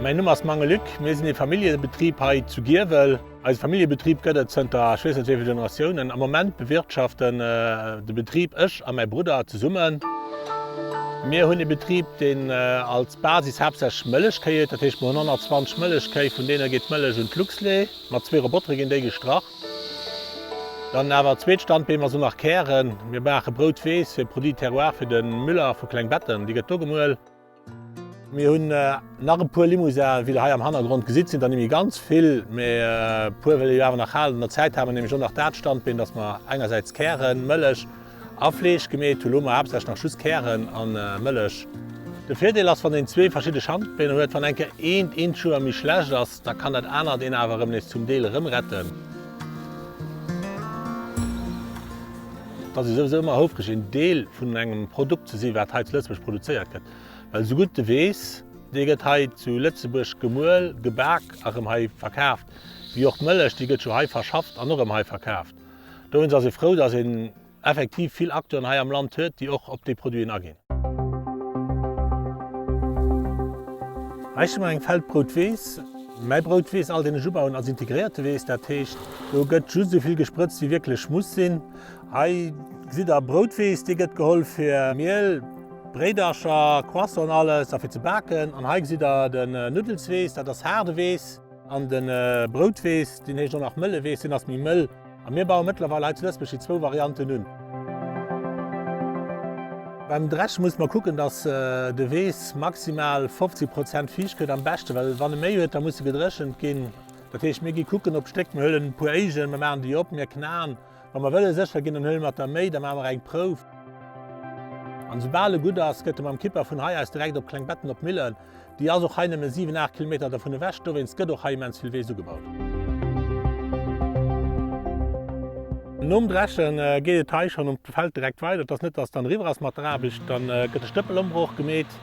Mäin Numm ass Mange Luc, mir sinn ee Familljebetrib hei zu Giewel. Eise Familljebetrib gëtt et zënter, ech weess net wéi vill Generatiounen. Am Moment bewirtschaften de Betrib ech a mäi Brudder zesummen. Mir hunn ee Betrib, deen als Basis haaptsächlech Mëllechkéi huet, dat heescht mir hunn 120 Mëllechkéi, vun deene geet d'Mëllech un d'Luxlait. Mat zwee Robotere ginn déi gestrach. Dann awer zweet Standbeem ass un nach Kären. Mir maache Brout weess fir Produits terroir fir de Müller vu Klengbetten. Déi gëtt do gemuel. Mir hunn nach e puer Limousin'en, wéi der hei am Hannergrond gesitt. Sinn der nimmi ganz vill, mee e puer wëlle jo awer nach halen. An der Zäit hale mer nämlech och nach dat Standbeen, dass mer engersäits Kären, Mëllech, A Fleesch gemeet hu lo mer haaptsächlech nach just Kären a Mëllech. De Virdeel ass, wann een zwee verschidde Schandbeen huet, wann eng Kéier eent eent Jour méi schlecht ass, da kann dat anert een awer erëm nees zum Deel erëm retten. Et ass jo souwisou ëmmer houfreg een Deel vun engem Produkt ze si wat hei zu Lëtzebuerg produzéiert gëtt, well esou gutt de weess, dee gëtt hei zu Lëtzebuerg gemuel, gebak a rëm hei verkaaft, wéi och d'Mëllech, déi gëtt jo hei verschafft an och rëm hei verkaaft. Dowéinst ass ee frou, dass een effektiv vill Acteuren hei am Land huet, déi och op déi Produiten aginn. Hei sti mer eng Feldbroutwiss. Mäi Broutwiss, all deen ech ubauen, ass integréierte Wiss. Dat heescht, do gëtt just esou vill gesprëtzt, wéi wierklech muss sinn. Hei gesitt Der Broutwiss, déi gëtt geholl fir Miel, Bréidercher, Croissant an alles a fir ze baken. An hei gesitt Der den Nuddelswiss, dat ass haarde Wiss. An den Broutweess, deen heescht och nach Mëlleweess, deen ass méi mëll. A mir bauen mëttlerweil hei zu Lëtzbuerg déi zwou Varianten un. Beim Dreschen mussen mer kucken, dass de Weess maximal 50 Prozent fiicht gëtt am beschten, well wann e méi huet, da muss e gedréchent ginn. Dat heescht, mir gi kucken op Stéck, mir huelen e puer Éigen, mir maachen déi op, mir knaen. Wa mer wëlle sécher ginn, dann huele mer d'Arméi, da maache mer eng Prouf. An soubal e gutt ass, gëtt e mam Kipper vun hei aus direkt op Klengbetten op d'Millen. Déi ass och hei nëmme siwen, aacht Kilometer dervun ewech. Dowéinst gëtt och hei immens vill Weess ugebaut. Nom Dreche geet et hei schonn op de Feld direkt weider. Et ass net, dass dann eriwwer ass mat der Aarbecht. Da gëtt de Stëppelombroch gemeet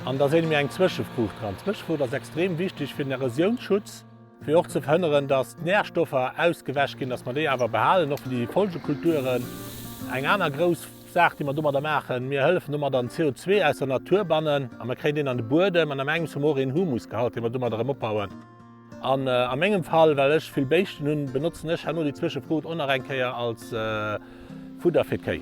an da seele mir eng Zwëschefruucht dran. D'Zwëschefruucht ass extrem wichteg fir den Erosiounsschutz. Fir och ze verhënneren, dass d'Närstoffer ausgewäsch ginn, dass mer déi awer behalen, och fir déi Folgekulturen. Eng aner grouss Saach, déi mer domadder maachen, mir hëllefen domat an CO2 aus der Natur bannen a mer kréien deen an de Buedem an am engems hu mer och een Humusgehalt, dee mer domadder erëm opbauen. An a mengem Fall, well ech vill Béischten hunn, benotzen ech herno déi Zwëschefrot och nach eng Kéier als, Fudder fir d'Kéi.